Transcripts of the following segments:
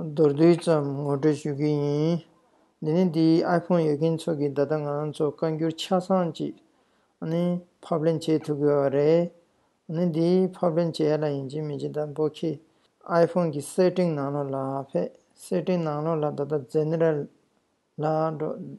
མདོར་བསྡུས་ཙམ་ངོ་སྤྲོད་ཞུ་གི་ཡིན། འདི་ནི་འདིའི་ཨའི་ཕོང་ཡོད་མཁན་ཚོ་གི་ད་ལྟ་ང་ཚོ་བཀའ་འགྱུར་ཆ་ཚང་ཅིག་ནི་ཕབ་ལེན་བྱེད་ཐུབ་གི་བ་རེད། ནི་འདི་ཕབ་ལེན་བྱེད་ཡ་ལ་ཡིན་ཅིང་མི་ཅིང་ད་འབོ་ཁི་ཨའི་ཕོང་གི Setting ནང་ལོག་ལ་ཕེབས Setting ནང་ལོག་ལ་ད་ལྟ General ལ་འགྲོ།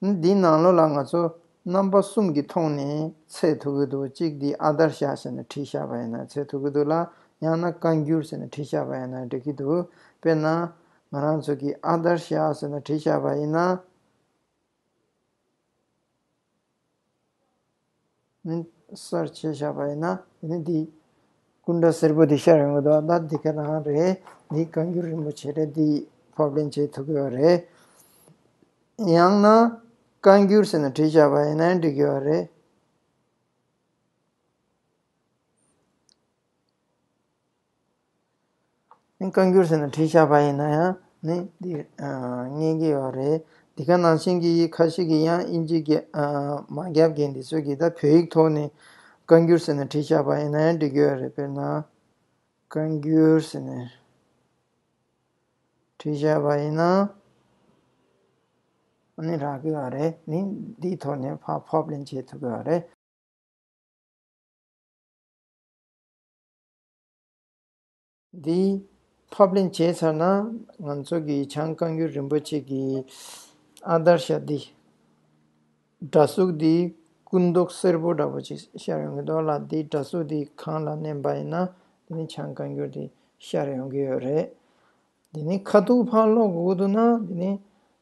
འདིའི་ནང་ལོགས་ལ་ང་ཚོ་རྣམ་པ་གསུམ་གྱིས་མཐོང་ནས་ཚད་ཐུ་གུ་འདུག་གཅིག་འདི་ཨ་དར་ཤ་ཟེར་ནས་བྲིས་ཤག་པ་ཡིན་ན་ཚད་ཐུ་གུ་འདུག་ལ་ཡང་ན་བཀའ་འགྱུར་ཟེར་ནས་བྲིས་ཤག་པ་ཡིན་ན་འགྲིག་གི་འདུག་དཔེར་ན། ང་རང་ཚོ་གིས་ཨ་དར་ཤ་ཟེར་ནས་བྲིས་ཤག་པ་ཡིན་ན། ནི་གསར་བྱེད་བཞག་པ་ཡིན་ན་དེ་ནི་འདི། སྐུ་འདྲ་སེར་པོ་འདི་ཤར་ཡོང་གི་འདུག་ད་འདི་ག་རང་རེད་འདི་བཀའ་འགྱུར་རིན་པོ་ཆེ་རེད་འདི་ཕབ་ལེན་བྱེད་ཐུབ་གི་བ་རེད། ཡང་ན་བཀའ་འགྱུར་ཟེར་ནས་བྲིས་བཞག་པ་ཡིན་ན་འགྲིག་གི་བ་རེད། བཀའ་འགྱུར་ཟེར་ནས་བྲིས་ཆགས་པ་ཡིན་ན་ཡང་ནི་འདི་རྙེད་ཀྱི་ཡོད་རེད། འདི་ག་ནང་བཞིན་གྱི་ཡིག་ཁ་ཞིག་གིས་ཡང་དབྱིན་ཇི་མ་བརྒྱབ་ཀྱི་འདི་ཚོས་ཀྱི་ད་བོད་ཡིག་ཐོག་ནས་བཀའ་འགྱུར་ཟེར་ནས་བྲིས་ཆགས་པ་ཡིན་ན་ཡང་འགྲིག་གི་ཡོད་རེད་དཔེར་ན། བཀའ་འགྱུར་ཟེར་ནས་བྲིས་ཆགས་པ་ཡིན་ན་ཡང་རག་གི་ཡོད་རེད་ནི་འདིའི་ཐོག་ནས་ཕབ་ལེན་བྱེད་ཐུབ་ཀྱི་ཡོད་རེད། འདི་ཕབ་ལེན་བྱས་ཚར་ན་ང་ཚོ་གི་བྱང་བཀའ་འགྱུར་རིན་པོ་ཆེ་གི་ཨ་དར་ཤ་འདི་འདྲ་གཟུགས་འདི་སྐུ་མདོག་སེར་པོ་འདྲ་པོ་ཅིག་ཤར་ཡོང་གི་འདུག་ལ་འདི་འདྲ་གཟུགས་འདི་གང་ལ་བསྣན་པ་ཡིན་ན་དེ་ནི་བྱང་བཀའ་འགྱུར་འདི་ཤར་ཡོང་གི་ཡོད་རེད། འདི་ནི་ཁ་ཐུག་ཕག་ལོག་གི་འུ་ཐུག་ན་འདི་ནི་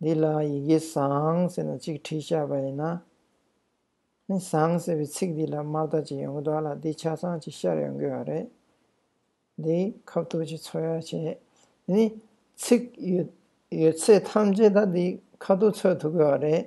འདི་ལ་ཡི་གེ་བཟང་ཟེར་ན་གཅིག་བྲིས་བཞག་པ་ཡིན་ན། ནི་བཟང་ཟེར་བའི་ཚིག་འདི་ལ་དམར་རྟ་གཅིག་ཡོང་གི་འདུག་ལ་འདི་ཆ་ཚང་གཅིག་ཤར་ཡོང་གི་ཡོད་རེད། འདི་ཁ་བཏུགས་ཀྱི་ཚོད་ཡག་བྱས་ནི། ཚིག་ཡོད་ཚད་ཐམས་ཅད་ད་འདི་ཁ་བཏུགས་ཚོད་ཐུག་གི་ཡོད་རེད།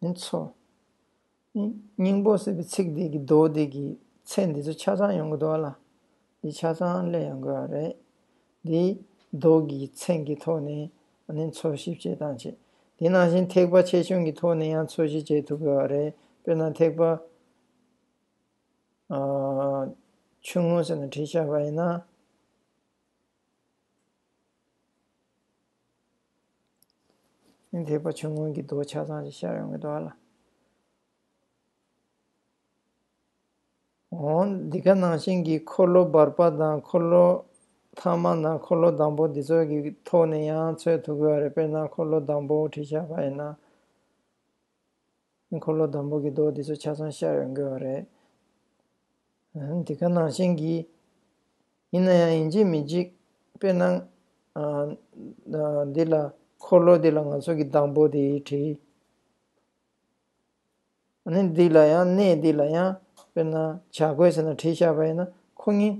ནི་ཚོ། སྙིང་པོ་ཟེར་བའི་ཚིག་འདི་གི་མདོ་སྡེ་གི་ཚེ་འདི་ཚོ་ཆ་ཚང་ཡོང་གི་འདུག་ལ། འདི་ཆ་ཚང་གླེང་ཡོང་དགོས་བ་རེད། འདིའི་མདོ་གི་ཚེ་འགི་ཐོག་ནས་ནི་ཚོ་ཞིབ་བྱེད་སྟངས་ཆེ། དེ་ནང་བཞིན་ཐེག་པ་ཆེ་ཆུང་གི་ཐོག་ནས་ཡང་ཚོ་ཞིབ་བྱེད་ཐུབ་དགོས་བ་རེད། དཔེར་ན་ཐེག་པ། ཆུང་ངུ་ཟེར་ན་བྲི་བྱ་བ་ཡིན་ན། འདས་པ་ཆུང་ངུ་གྱི་རྡོ་ཆ་ཚང་ཞིག་ཤར་ཡོང་གི་འདུག་ལ། འོན་འདི་ག་ནང་བཞིན་གྱི་འཁོར་ལོ་འབར་པ་དང་འཁོར་ལོ་ཐ་མ་དང་འཁོར་ལོ་བདང་པོ་འདི་ཚོ་གི་ཐོག་ནས་ཡང་འཚོལ་ཐུབ་གི་རེད་དཔེར་ན་འཁོར་ལོ་བདང་པོ་བྲིས་ཆ་བ་ཡིན་ན། འཁོར་ལོ་དང་པོ་གྱི་མདོ་འདི་ཚོ་ཆ་ཚང་ཤར་བས་འགོས་བ་རེད། འདི་ག་ནང་བཞིན་གྱིས། ཡིན་ན་ཡང་ཡིན་གཅིག་མིན་གཅིག། དཔེར་ན། འདི་ལ། འཁོར་ལོ་འདི་ལ་ང་ཚོ་གི་དང་པོ་དེ་བྲིས། ནི་འདི་ལ་ཡང་གནས་འདི་ལ་ཡང། དཔེར་ན། བྱ་རྒོད་ཟེར་ན་བྲིས་ཤར་བ་ཡིན་ན་ཁོ་གཉིས།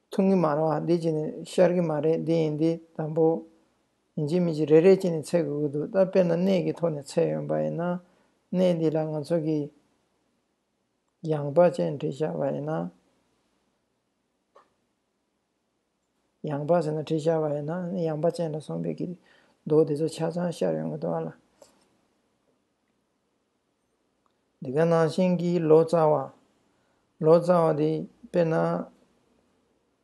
མཐུན་གྱི་མ་རེད་བ་འདི་གཅིག་ནི་ཤར་གྱི་མ་རེད་འདི་ཡིན་འདི་དང་པོ། ཡིན་གྱི་མིན་གྱི་རེ་རེ་ཅན་ནས་འཚལ་དགོས་ཀྱི་འདུག་ད་དཔེར་ན་གནས་ཀྱི་ཐོག་ནས་འཚལ་ཡོང་པ་ཡིན་ན། གནས་འདི་ལ་ང་ཚོ་གིས་ཡངས་པ་ཅན་བྲིས་བཞག་པ་ཡིན་ན། ཡངས་པ་ཟེར་ན་བྲིས་བཞག་པ་ཡིན་ན་ཡངས་པ་ཅན་ལ་སོང་པའི་གི་འདུག་དེ་ཚོ་ཆ་ཚང་ཤར་ཡོང་གི་འདུག་ཨ་ལ། འདི་ག་ནང་བཞིན་གྱི་ལོ་ཙཱ་བ། ལོ་ཙཱ་བ་འདི་དཔེར་ན།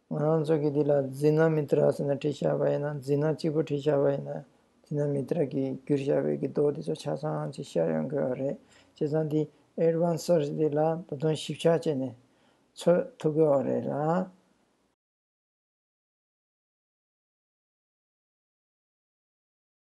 ང་རང་ཚོ་གིས་འདི་ལ་ཛི་ན་མི་ཏྲ་ཟེར་ན་བྲིས་ཤ་བ་ཡིན་ན་ཛི་ན་གཅིག་པུ་བྲིས་ཤ་བ་ཡིན་ན་ཛི་ན་མི་ཏྲ་གི་བསྒྱུར་བྱ་བའི་གི་མདོ་འདི་ཚོ་ཆ་ཚང་ཅིག་ཤར་ཡོང་དགོས་བ་རེད་བྱས་ཙང་འདི Advanced Search འདི་ལ་ད་དུང་ཞིབ་ཆ་བྱས་ནས་འཚོལ་ཐུབ་དགོས་བ་རེད་ལ།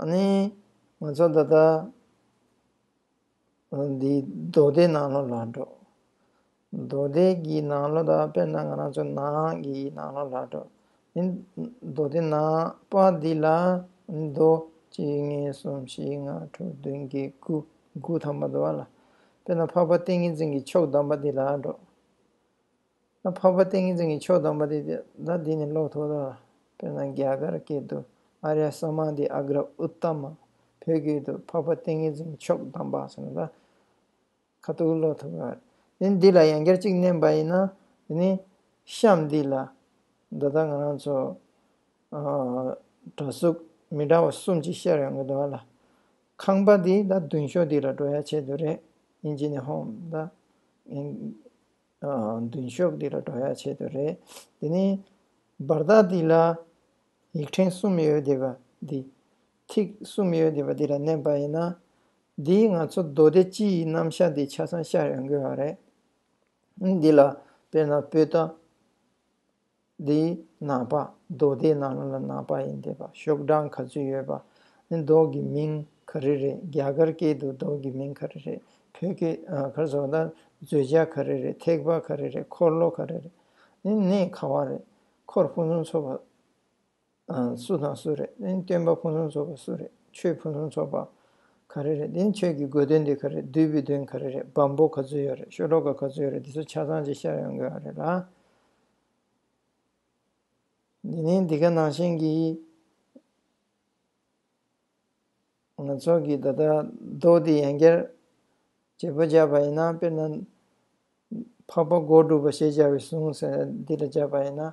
ཨ་ནི། ང་ཚོ་ད་ལྟ། འདི་རྡོ་སྡེ་ནང་ལོགས་ལ་འགྲོ། རྡོ་སྡེ་གི་ནང་ལོགས་ད་དཔེར་ན་ང་རང་ཚོ་ནང་གི་ནང་ལོགས་ལ་འགྲོ། འདི་རྡོ་སྡེ་ནང་པ་འདི་ལ། རྡོ། གཅིག་གཉིས་གསུམ་བཞི་ལྔ་དྲུག་བདུན་བརྒྱད་དགུ། དགུ་ཐམ་པ་འདུག་བ་ལ། དཔེར་ན་འཕགས་པ་ཏིང་ངེ་འཛིན་གྱི་མཆོག་གདམས་པ་འདི་ལ་འགྲོ། ད་འཕགས་པ་ཏིང་ངེ་འཛིན་གྱི་མཆོག་སྟོན་པ་དེ་ད་འདི་ནས་ཀློག་ཐུབ་དོ། དཔེར་ན་རྒྱ་གར་སྐད་དུ་ཨ་རྱ་ས་མ་ཏི་ཨ་གར་ཨུ་ཏ་མ། བོད་སྐད་དུ་འཕགས་པ་ཏིང་ངེ་འཛིན་གྱི་མཆོག་སྡོམ་པ་ཟེར་ན་ད་ཁ་ཐུག་ཀློག་ཐུབ་ཀྱི་རེད། དེ་འདི་ལ་ཡང་བསྐྱར་གཅིག་བསྣན་པ་ཡིན་ན་དེ་ནི་གཤམ་འདི་ལ་ད་ལྟ་ང་རང་ཚོ་གྲྭ་གཟུགས་མི་འདྲ་བ་གསུམ་གྱིས་བཤད་ཡོང་གི་འདུག་ཨ་ལ་ཁང་པ་འདི་ད་མདུན་ཤོག་འདི་ལ་འགྲོ་ཡ་ཆེད་དུ་རེད་ཡིན་གྱི་ནི་ཧོམ་ད། མདུན་ཤོག་འདི་ལ་འགྲོ་ཡག་ཆེད་དུ་རེད། དེ་ནས་བར་ཐག་འདི་ལ་ཡིག་ཕྲེང་གསུམ་ཡོད་བསྡད་པ་འདི། ཐིག་གསུམ་ཡོད་བསྡད་པ་འདི་ལ་མནན་པ་ཡིན་ན། འདིས་ང་ཚོ་མདོ་སྡེ་སྤྱི་ཡི་རྣམ་གཞག་འདི་ཆ་ཚང་ཤར་ཡོང་གི་ཡོད་རེད། འདི་ལ་དཔེར་ན་བོད་ཟླ། འདི་ནག་པ་རྡོ་དེ་ནག་ལ་ནག་པ་ཡིན་དེ་པ་ཤོག་གྲངས་ག་ཚོད་ཡོད་པ་ནི་རྡོ་གི་མིང་ག་རེ་རེད་རྒྱ་གར་སྐད་དུ་རྡོ་གི་མིང་ག་རེ་རེད་བོད་སྐད་གར་སོགས་དང་བརྫོད་བྱ་ག་རེ་རེད་ཐེག་པ་ག་རེ་རེད་འཁོར་ལོ་ག་རེ་རེད་ནི་གནས་ག་བ་རེད་འཁོར་ཕུན་སུམ་ཚོགས་པ། སུ་དང་སུ་རེད་དེ་སྟོན་པ་ཕུན་སུམ་ཚོགས་པ་སུ་རེད་ཆོས་ཕུན་སུམ་ཚོགས་པ་ག་རེ་རེད་དེ་ཆོས་ཀྱི་དགོས་དོན་དེ་ག་རེ་རེད་བདུད་པའི་དོན་ག་རེ་རེད་བམ་པོ་ག་ཚོད་ཡོད་རེད་ཤོ་གྲོག་ག་ག་ཚོད་ཡོད་རེད་དེ་ཚོ་ཆ་ཚང་གཅིག་ཤར་ཡོང་དགོས་ཨ་རེད་ལ། དེ་ནས་འདི་ག་ནང་བཞིན་གྱི། ང་ཚོ་གི་ད་ལྟ་རྡོ་དེ་ཡན་གར་བྱེད་པོ་བརྒྱབ་པ་ཡིན་ན་དཔེར་ན། འཕགས་པ་སྒོ་དྲུག་པ་ཞེས་བྱ་བའི་གཟུངས་ཟེར་འདི་ལ་བརྒྱབ་པ་ཡིན་ན།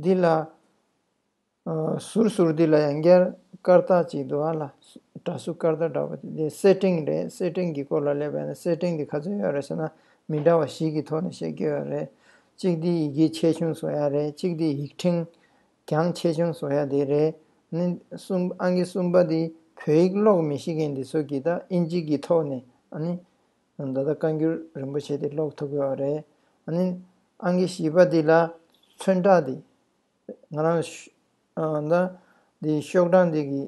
འདི་ལ། ཟུར་ཟུར་འདི་ལ་ཡང་སྐྱར་སྐར་རྟགས་གཅིག་འདུག་ཨ་ལ། དགྲ་ཟུར་སྐར་རྟགས་འདྲ་བ་དེ་འདི་སེར་སྤྲེང་རེད་སེར་སྤྲེང་གི་སྐོར་ལ་ལས་པ་ཡིན་ན་སེར་སྤྲེང་འདི་ག་ཚོད་ཡོད་རེད་ཟེར་ན་མི་འདྲ་བ་ཞིག་གི་ཐོག་ནས་བཤད་ཀྱི་ཡོད་རེད། གཅིག་འདི་ཡི་གེ་ཆེ་ཆུང་བཟོ་ཡ་རེད་གཅིག་འདི་ཡིག་ཕྲེང་གྱང་ཆེ་ཆུང་བཟོ་ཡ་དེ་རེད། ནི། གསུམ་ཨང་གི་གསུམ་པ་འདི་བོད་ཡིག་ཀློག་མི་ཤེས་མཁན་འདི་ཚོ་གིས་ད་ཨིན་ཇི་གི་ཐོག་ནས་ཨ་ནི། ད་ལྟ་བཀའ་འགྱུར་རིན་པོ་ཆེ་དེ་ཀློག་ཐུབ་ཡོད་རེད། ཨ་ནི། ཨང་ཀི་བྱིས་པ་འདི་ལ་མཚོན་རྟགས་འདི། ང་རང། ད། འདི་ཤོག་གྲངས་འདི་གི།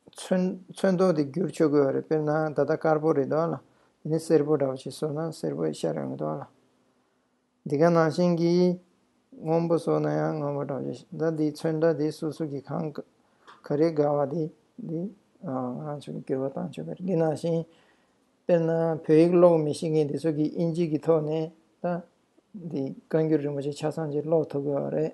མཚོན། མཚོན་ཐོག་འདི་བསྒྱུར་ཆོག་གི་ཡོད་རེད་དཔེར་ན་ད་ལྟ་དཀར་པོ་རེད་འདུག་ཨ་ལ། དེ་ནི་སེར་པོ་འདྲ་བ་ཞིག་བཟོ་ན་སེར་པོ་ཤ་རེ་འོང་གི་འདུག་ཨ་ལ། འདི་ག་ནང་བཞིན་གྱི་སྔོན་པོ་སོགས་ན་ཡང་སྔོན་པོ་གྲགས་ཆེ་ཞིང་ཟླ་འདིའི་ཚོན་ཟླ་འདིའི་སོ་སོ་གྱི་ཁང་བཀའ་རེ་དགའ་བ་དེ་འདི་ང་རང་ཚོ་ནི་སྐྱོ་བ་དང་ཆོས་པའི་རིགས་ནང་བཞིན། དཔེར་ན་བོད་ཡིག་ཀློག་མི་ཤེས་མཁན་དེ་ཚོ་གིས་དབྱིན་ཇིག་གི་ཐོག་ནས་ད་འདི་བཀའ་འགྱུར་རིན་པོ་ཆེ་ཆ་ཚང་ཅིག་ཀློག་ཐུབ་དགོས་བ་རེད།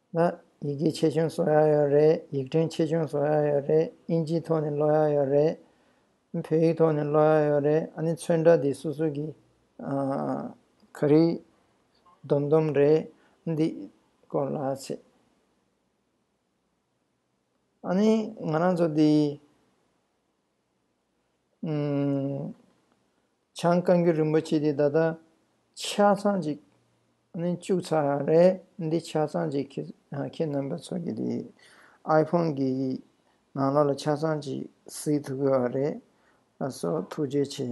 ལ། ཡི་གེ་ཆེ་ཆུང་སོགས་ཡང་ཡོད་རེད། ཡིག་ཕྲེང་ཆེ་ཆུང་སོགས་ཡང་ཡོད་རེད། དབྱིན་ཇིའི་ཐོག་ནས་ཀློག་ཡག་ཡོད་རེད། བོད་ཡིག་ཐོག་ནས་ཀློག་ཡག་ཡོད་རེད། ཨ་ནི་ཚོན་ཁྲ་འདི་སོ་སོ་གི། ག་རེ། སྡོམ་སྡོམ་རེད། འདི། སྐོར་ལ་ཚེ། ཨ་ནི་ང་རང་ཚོ་འདི། བྱང་བཀའ་འགྱུར་རིན་པོ་ཆེ་འདི་ད་ལྟ་ཆ་ཚང་གཅིག་ནས་བཅུག་ཚར་བ་རེད་འདི་ཆ་ཚང་གཅིག་ཁྱེད་རྣམ་པ་ཚོ་གི་དེ་ཨའི་ཕོང་གི་ནང་ལོགས་ལ་ཆ་ཚང་གཅིག་གཟིགས་ཐུབ་དགོས་བ་རེད་ཨ་སོ་ཐུགས་རྗེ་ཆེ།